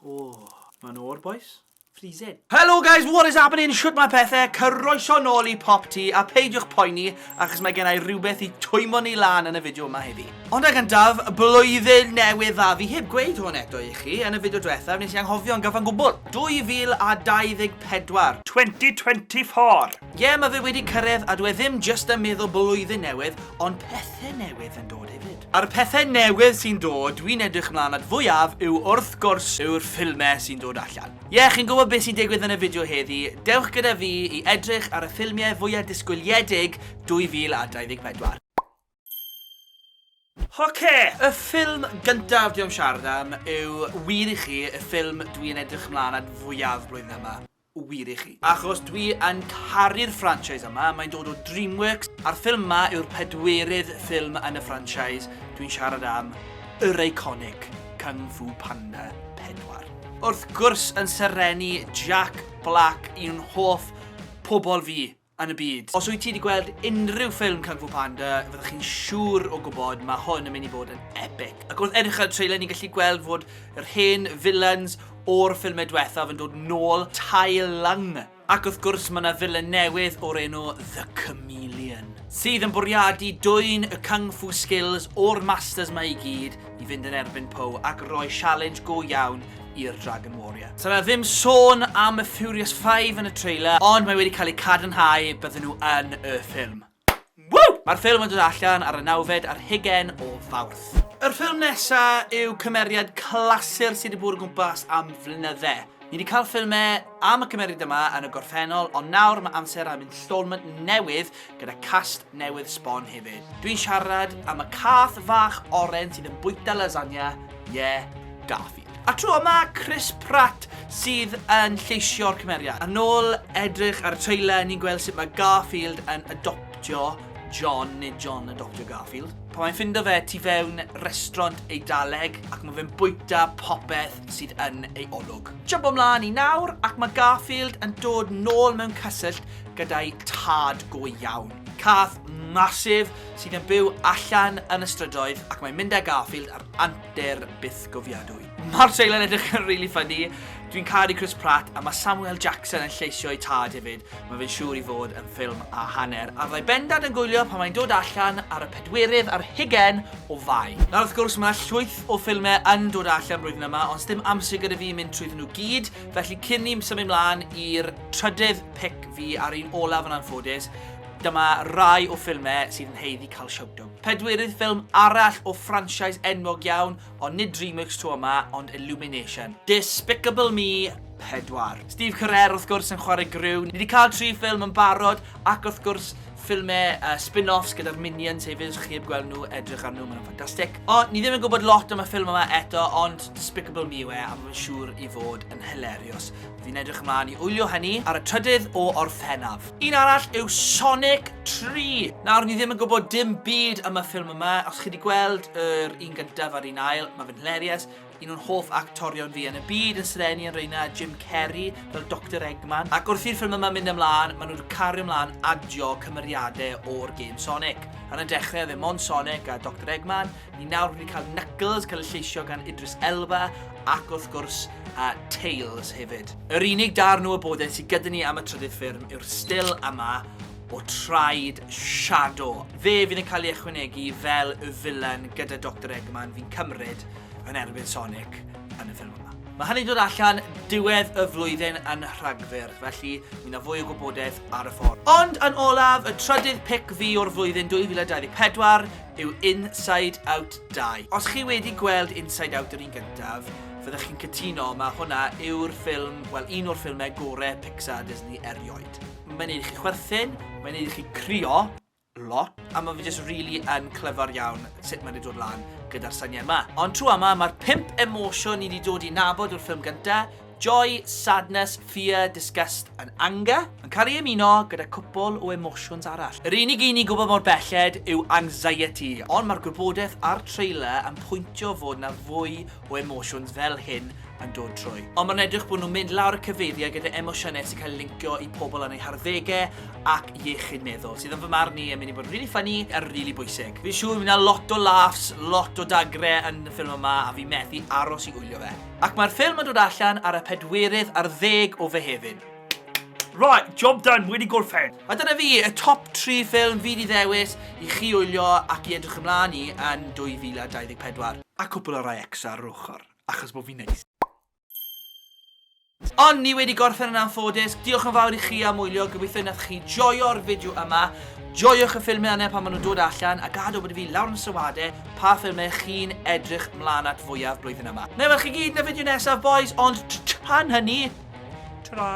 Oh, mae'n o'r boys. Freezing. Hello guys, what is happening? Shwt mae pethau? Cyroeso nôl i Pop Tea a peidiwch poeni achos mae gennau rhywbeth i twymo ni lan yn y fideo yma heddi. Ond ag yndaf, blwyddyn newydd dda. Fi heb gweud hwn eto i chi yn y fideo diwethaf nes i anghofio'n gyfan gwbl. 2024. 2024. Ie, ma fe wedi cyrredd a dw e ddim jyst yn meddwl blwyddyn newydd, ond pethe newydd yn dod hefyd. A'r pethe newydd sy'n dod dwi'n edrych mlaen at fwyaf yw wrth gwrs yw'r ffilme sy'n dod allan. Ie, chi'n gwybod beth sy'n digwydd yn y fideo heddi, dewch gyda fi i edrych ar y ffilmie fwya disgwyliedig 2024. Oce! Y ffilm gyntaf dwi am siarad am yw wir i chi y ffilm dwi yn edrych mlan at fwyaf y flwyddyn yma. Wir i chi. Achos dwi yn caru'r franchise yma, mae'n dod o Dreamworks, a'r ffilm yma yw'r pedwerydd ffilm yn y franchise, dwi'n siarad am yr eiconig Kung Fu Panda 4. Wrth gwrs yn serennu Jack Black, un hoff pobl fi. yn y byd. Os wyt ti wedi gweld unrhyw ffilm Kung Fu Panda, fyddwch chi'n siŵr o gwybod mae hwn yn mynd i fod yn epic. Ac wrth edrych ar y trailer ni'n gallu gweld fod yr hen villains o'r ffilmau diwethaf yn dod nôl, Tai Lung. Ac wrth gwrs mae yna villain newydd o'r enw The Chameleon. Sydd yn bwriadu dwyn y Kung Fu skills o'r masters 'ma i gyd, i fynd yn erbyn Poe ac roi sialens go iawn i'r Dragon Warrior. Sa'n yna ddim sôn am y Furious 5 yn y trailer, ond mae wedi cael ei cadarnhau bydden nhw yn y ffilm. Woo! Mae'r ffilm yn dod allan ar y nawfed ar hugen o fawrth. Yr ffilm nesa yw cymeriad clasur sydd wedi bod o gwmpas am flynydde. Ni wedi cael ffilme am y cymeriad yma yn y gorffennol, ond nawr mae amser am installment newydd gyda cast newydd sbon hefyd. Dwi'n siarad am y cath fach oren sydd yn bwyta lasagna, ie, yeah, Garfield. A tro yma, Chris Pratt sydd yn lleisio'r cymeriad. Yn ôl edrych ar y trailer, ni'n gweld sut mae Garfield yn adoptio John, neu John y Dr Garfield. Pan mae'n ffindo fe tu fewn restraunt Eidaleg ac mae fe'n bwyta popeth sydd yn ei olwg. Jympo mlaen i nawr ac mae Garfield yn dod nôl mewn cysyllt gyda'i tad go iawn. Cath massive sydd yn byw allan yn y strydoedd ac mae'n mynd â Garfield ar antur bythgofiadwy. Mae'r trailer yn edrych yn rili ffyni. Dwi'n caru Chris Pratt a mae Samuel Jackson yn lleisio'i tad hefyd. Mae fe'n siŵr i fod yn ffilm a hanner, a fyddai bendant yn gwylio pan mae'n dod allan ar y pedwerydd ar hugen o Fai. Nawr wrth gwrs mae llwyth o ffilmau yn dod allan blwyddyn yma ond sdim amser gyda fi mynd trwyddyn nhw gyd, felly cyn ni symud mlaen i'r trydydd pic fi a'r un olaf yn anffodus, dyma rai o ffilmau sydd yn haeddu cael shout-out. Pedwerydd ffilm arall o franchise enwog iawn, Ond nid Dreamworks tro yma, ond Illumination. Despicable Me 4. Steve Carell wrth gwrs yn chwarae Gru. Ni wedi cael tri ffilm yn barod, ac wrth gwrs ffilmau uh, spin-offs gyda'r Minions hefyd, os chi heb gweld nhw, edrych ar nhw, maen nhw'n ffantastig. O, ni ddim yn gwybod lot am y ffilm yma eto, ond Despicable Me yw e, a mae'n siŵr i fod yn hilarious. Fi'n edrych ymlaen i wylio hynny ar y trydydd o Orffennaf. Un arall yw Sonic 3. Nawr, ni ddim yn gwybod dim byd am y ffilm yma. Os chi wedi gweld yr un gyntaf a'r un ail, mae fe'n hilarious. Un o'n hoff actorion fi yn y byd yn sreni yn reina Jim Carrey fel Dr Eggman. Ac wrth i'r ffilm yma mynd ymlaen, maen nhw wedi cario ymlaen adio cymeriadau o'r gêm Sonic. Yn y dechrau, fe mon Sonic a Dr Eggman, Ni nawr wedi cael Knuckles cael ei lleisio gan Idris Elba ac wrth gwrs a Tails hefyd. Yr unig darn o wybodaeth sydd gyda ni am y trydydd ffurm yw'r still yma o traed Shadow. Fe fydd yn cael ei ychwanegu fel y filan gyda Dr Eggman fi'n cymryd yn erbyn Sonic yn y ffilm yma. Mae hynny'n dod allan diwedd y flwyddyn yn Rhagfyr, felly mi na fwy o gwybodaeth ar y ffordd. Ond yn olaf, y trydydd pic fi o'r flwyddyn 2024, yw Inside Out 2. Os chi wedi gweld Inside Out yr un gyntaf, fyddech chi'n cytuno, mae hwnna yw'r ffilm, wel un o'r ffilmau gore Pixar Disney erioed. Mae'n neud i chi chwerthin, mae'n neud i chi crio lot, a mae fe jyst really yn clyfar iawn sut mae wedi dod lan gyda'r syniad 'ma. Ond tro yma, mae'r pump emosiwn ni wedi dod i nabod o'r ffilm gynta, Joy, sadness, fear, disgust and anger yn cael ei ymuno gyda cwpwl o emosiwns arall. Yr unig un ni'n gwybod mor belled yw anxiety, ond mae'r gwybodaeth a'r trailer yn pwyntio fod 'na fwy o emosiwns fel hyn yn dod trwy. Ond mae'n edrych bod nhw'n mynd lawr y cyfeiriau gyda emosiynau sy'n cael eu lincio i pobl yn eu harddegau ac iechyd meddwl, sydd yn fy marn i yn mynd i fod yn rili ffyni a rili bwysig. Fi'n siŵr fydd 'na lot o laughs, lot o dagrau yn y ffilm yma a fi methu aros i wylio fe. Ac mae'r ffilm yn dod allan ar y pedwerydd ar ddeg o Fehefin. Right, job done, wedi gorffen! A dyna fi, y top 3 ffilm fi 'di ddewis i chi wylio ac i edrych ymlaen i yn 2024. A cwpl o rai extra ar yr ochr, achos bo fi'n neis. Ond ni wedi gorffen yn anffodus, diolch yn fawr i chi am wylio, gobeithio y nathoch chi joio'r fideo yma, joiwch y ffilmiau yna pan maen nhw'n dod allan, a gad wybod i fi lawr yn y sylwadau Pa ffilm ych chi'n edrych mlaen at fwyaf blwyddyn yma? Wna i weld chi gyd yn y fideo nesaf bois, ond tan hynny, tara.